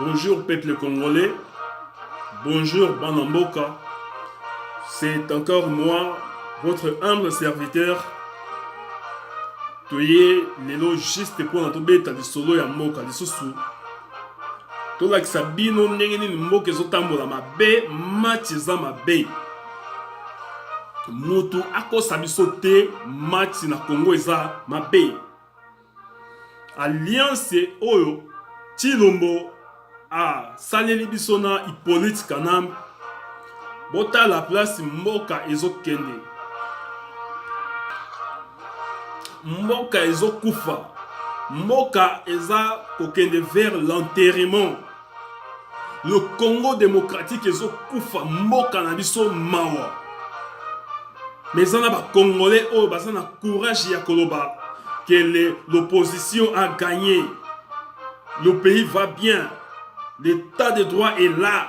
Bonjour peuple congolais, bonjour Banamboka, c'est encore moi, votre humble serviteur. Toye lelo juste mpo na tobeta lisolo ya mboka lisusu tolakisa bino ndenge nini mboka ezotambola mabe match eza mabe motu akosa biso te match na congo eza mabe alliance oyo chilombo asaleli biso na hippolyte kanambe botala place mboka ezokende mboka ezokufa mboka eza kokende vers l'enterrement le congo démocratique ezokufa mboka na biso mawa mais eza na bacongolais oyo baza na courage ya koloba que l'opposition a gagné le pays va bien l'état de droit est là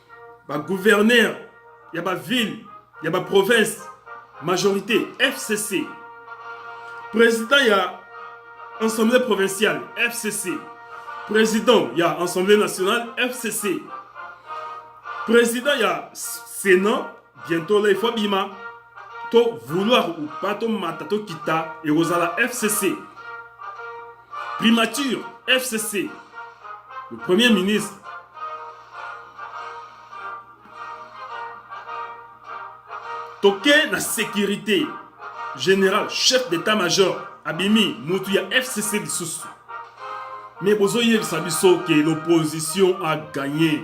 ba gouverneur ya ba ville ya ba province majorité fcc président ya assemblée provinciale fcc président ya assemblée nationale fcc président ya sénat bientôt là il faut abima to vouloir ou pas to mata to kita ekozala fcc primature fcc le premier ministre toke na sécurité général chef d'état major abimi mutu ya fcc lisusu mais bozoyebisa biso ke l'opposition a gagné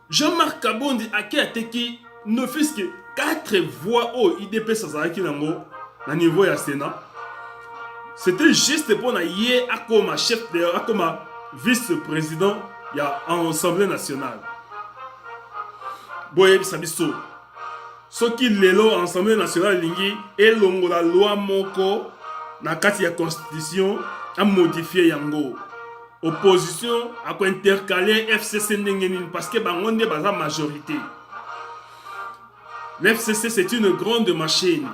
Jean-Marc Kabondi ake ateki ne fils que 4 voix oyo idps azalaki nango na niveau ya senat c'était juste mpo na ye akoma chef de akoma vice président ya assemblée nationale boyebisa biso soki lelo assemblée nationale elingi elongola loi moko na kati ya constitution amodifie yango opposition akointercale fcc ndenge nini parce que bango nde baza majorité l'fcc c'est une grande machine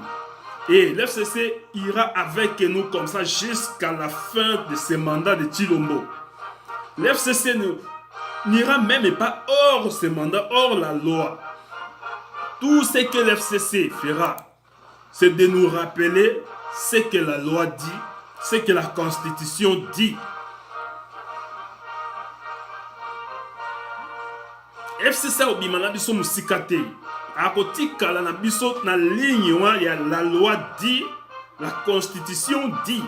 et l'fcc ira avec nous comme ça jusqu'à la fin de ce mandat de Chilombo l'fcc n'ira même pas hors ce mandat hors la loi Tout ce que l'FCC fera, c'est de nous rappeler ce que la loi dit, ce que la Constitution dit. FCC obima na biso mosika te akotikala na biso na ligne wana ya la loi dit la constitution dit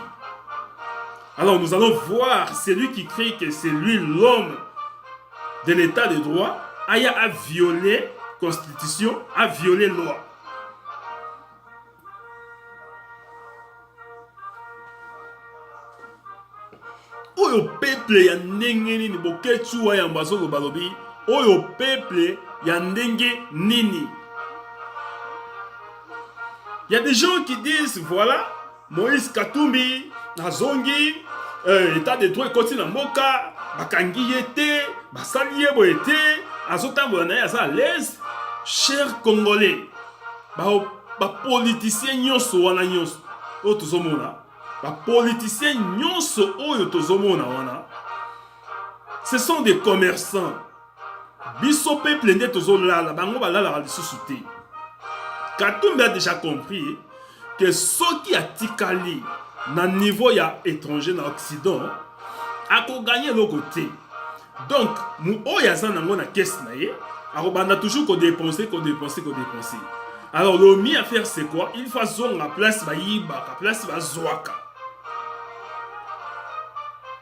Alors nous allons voir celui qui crie que c'est lui l'homme de l'état de droit aya a violé constitution, a violé loi. oyo peuple ya ndenge nini boketsu wa yambo azoloba lobi oyo peuple ya ndenge nini Il y a des gens qui disent, voilà, Moïse Katumbi azongi euh, etat de droit ekoti na mboka, bakangi ye te, basali ye boye te, azotambola na ye aza alaise. Cher Congolais, bapolitisien ba nyonso wana nyonso oyo tozomona, bapolitisien nyonso oyo tozomona wana, ce sont des commerçants biso peuple nde tozolala bango balalaka lisusu te katumbi a déjà compris ke soki atikali na niveau ya étranger na occident akoganye eloko te donc oyo aza nango na kese na ye akobanda toujours kodepense kodepense kodepense alors le mieux à faire c'est quoi il faut azonga place bayibaka place bazwaka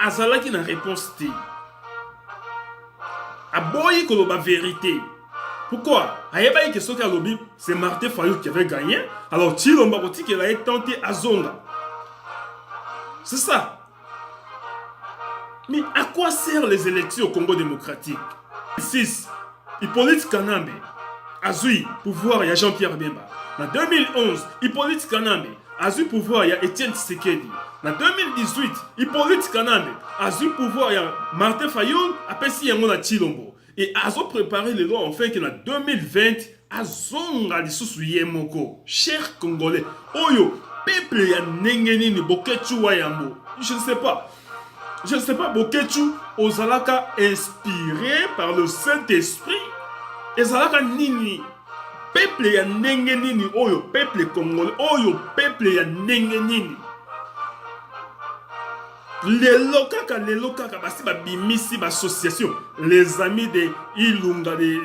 azalaki na réponse te aboyi koloba verité pourquoi ayebaki ke soki alobi c'est martin fayou qui avait gagné alors tilomba kotikela ye temps te azonga c'est ça mais à quoi sert les élections au congo démocratique 6 Hippolyte Kanambe azui pouvoir ya Jean-Pierre Bemba. Na 2011, Hippolyte Kanambe azui pouvoir ya Etienne Tshisekedi. Na 2018, Hippolyte Kanambe azui pouvoir ya Martin Fayul apesi yango na Chilombo. Et azo préparer lelo enfin que na 2020 azonga lisusu ye moko cher congolais oyo peuple ya ndenge nini boketshu wa yambo je ne sais pas je ne sais pas boketshu ozalaka inspiré par le saint esprit ezalaka nini peuple ya ndenge nini oyo peuple congolais oyo peuple ya ndenge nini lelo kaka lelo kaka basi babimisi bassociation les amis de ilunga de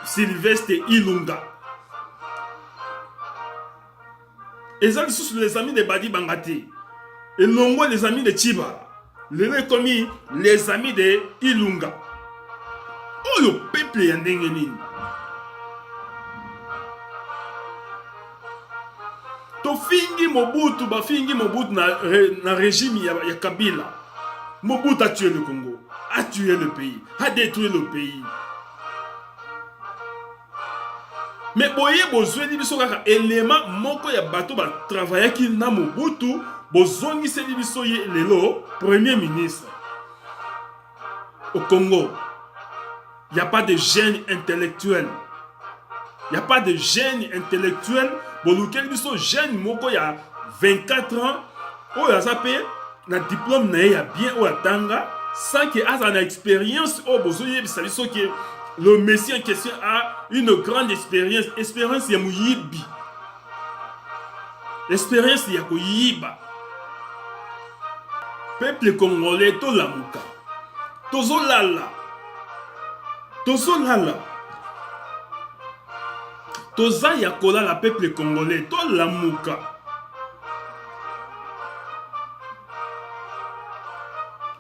sylvestre ilunga eza lisusu les amis de badi banga te elongo les amis de chibala lelo ekomi les amis de ilunga oyo peple ya ndenge nini tofingi mobutu bafingi mobutu na, na régime ya, ya kabila mobutu atue le congo atue le pays adétruire le pays me boye bozweli biso kaka elema moko ya bato batravayaki na mobutu bozongiseli biso ye lelo premier ministre au Congo. Il n'y a pas de gêne intellectuel. Il n'y a pas de gêne intellectuel. Bolukel biso gêne moko il y a 24 ans. Oh, il y a na diplôme na ya bien ou atanga sans que aza na expérience oh bozo yebisa biso que le messie en question a une grande expérience expérience ya muyibi experience ya koyiba peuple congolais tolamuka tozolala tozolala toza ya kolala peuple congolais tolamuka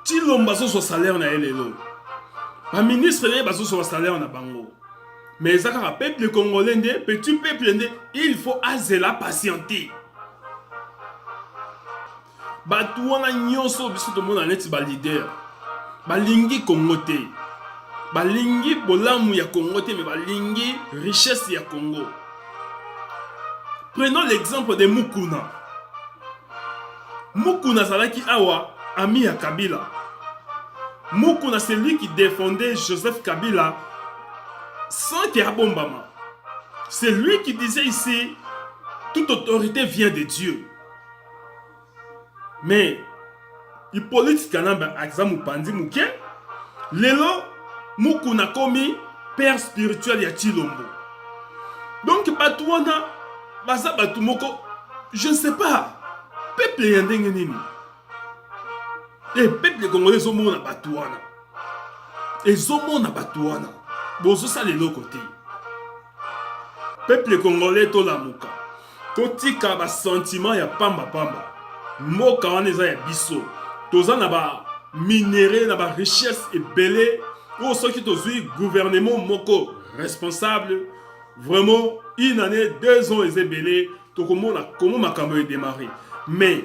tilomba azozwa salaire na ye lelo baministre na ye bazozwa basalaire na bango mais eza kaka peuple congolais nde petit peuple nde il faut azela patiente bato wana nyonso biso tomona neti balider balingi kongo te balingi bolamu ya kongo te me balingi richesse ya kongo prenons l'exemple de mukuna Mukuna azalaki awa ami ya Kabila. Mukuna c'est lui qui défendait Joseph Kabila sans que abombama. C'est lui qui disait ici toute autorité vient de Dieu. Mais Hippolyte Kanambe aza mopanzi moke lelo mukuna akomi père spirituel ya Chilombo donc bato wana baza bato moko je ne sais pas peuple ya ndenge nini e eh, peuple congolais ezomona bato wana ezomona bato wana bozosala eloko te peuple congolais tolamuka Totika ba sentiment ya pamba pamba. Mboka wana eza ya biso. Toza na ba minerais na ba richesse ebele oyo soki tozwi gouvernement moko responsable vraiment une année deux ans eza ebele tokomona komo makambo edemare mais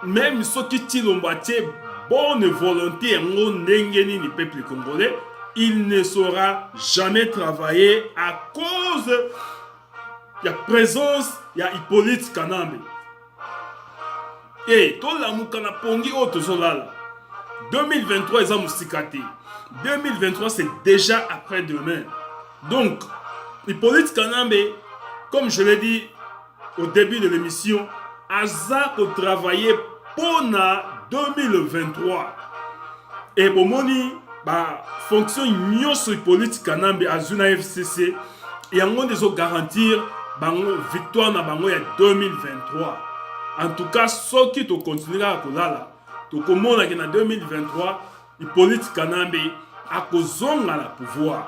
meme soki tilombo atie bonne volonté yango ndenge nini peuple congolais il ne saura jamais travailler à cause ya presence ya Hippolyte Kanambe e eh, tolamuka na pongi oyo tozolala 2023 eza mosika te 2023 c'est déjà après demain donc Hippolyte Kanambe comme je l'ai dit au début de l'émission aza kotravaille mpo na 2023 e bomoni bafonction nyonso Hippolyte Kanambe azwi na FCC yango nde ezo garantir bango victoire na bango ya 2023 en tout cas soki tokontinue kaka kolala tokomonaki na 2023 hippolyte kanambe akozonga na pouvoir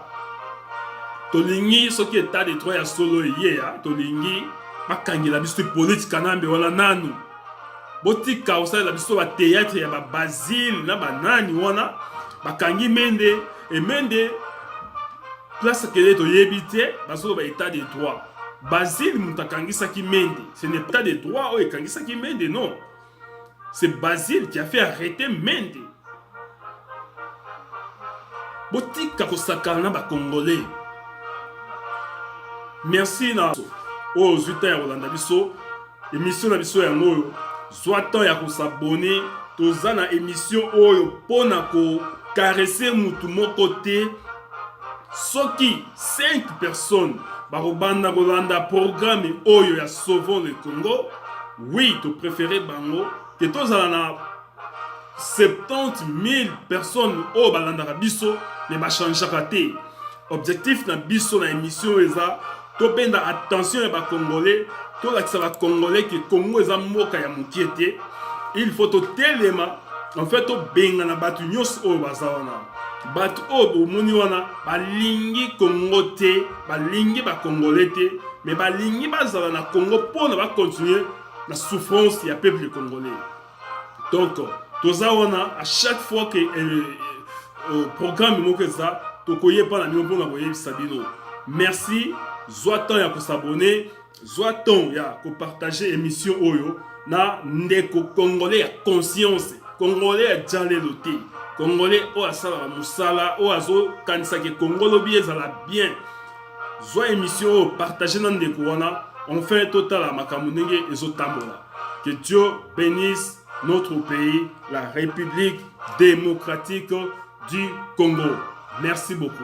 tolingi soki etat de droit ya solo eyeya tolingi bakangela biso hippolyte kanambe wana nanu botika kosalela biso bateatre ya babazile na banani wana bakangi mende emende place kele toyebi te bazoloba etat de droit basile moto akangisaki mende ce n'est pas de droit oyo ekangisaki mende non c'est basile qui a fait arrêter mende botika kosakana na bacongolais merci na oyo ozwi ntan ya kolanda biso emission na biso yango oyo zwa ntan ya kosabone toza na emission oyo mpo na kokarese motu moko te soki 5 personnes bakobanda kolanda programe oyo ya sauvons le congo oui topréféré bango ke tozala na 70 000 personnes oyo balandaka biso me bachangeaka te objectif na biso na émission oyo eza tobenda attention ya bacongolais tolakisa bacongolais ke congo eza mboka ya mokie te il faut totelema en fait tobengana bato nyonso oyo baza wana bato oyo bomoni wana balingi congo te balingi bacongolais te mais balingi bazala na congo mpona bacontinue na souffrance ya peuple congolais donc toza wana à chaque fois que euh, euh, programme moko eza tokoyeba na bino mpona koyebisa bino merci zwa temps ya kosabone zwa temps ya kopartage émission oyo na ndeko congolais ya conscience congolais ya jalelo te congolais oyo asalaka mosala oyo azokanisaka ekongolobi ezala bien zwa emission oyo partage na ndeko wana enfin totala makambo ndenge ezotambola que dieu bénisse notre pays la république démocratique du congo merci beaucoup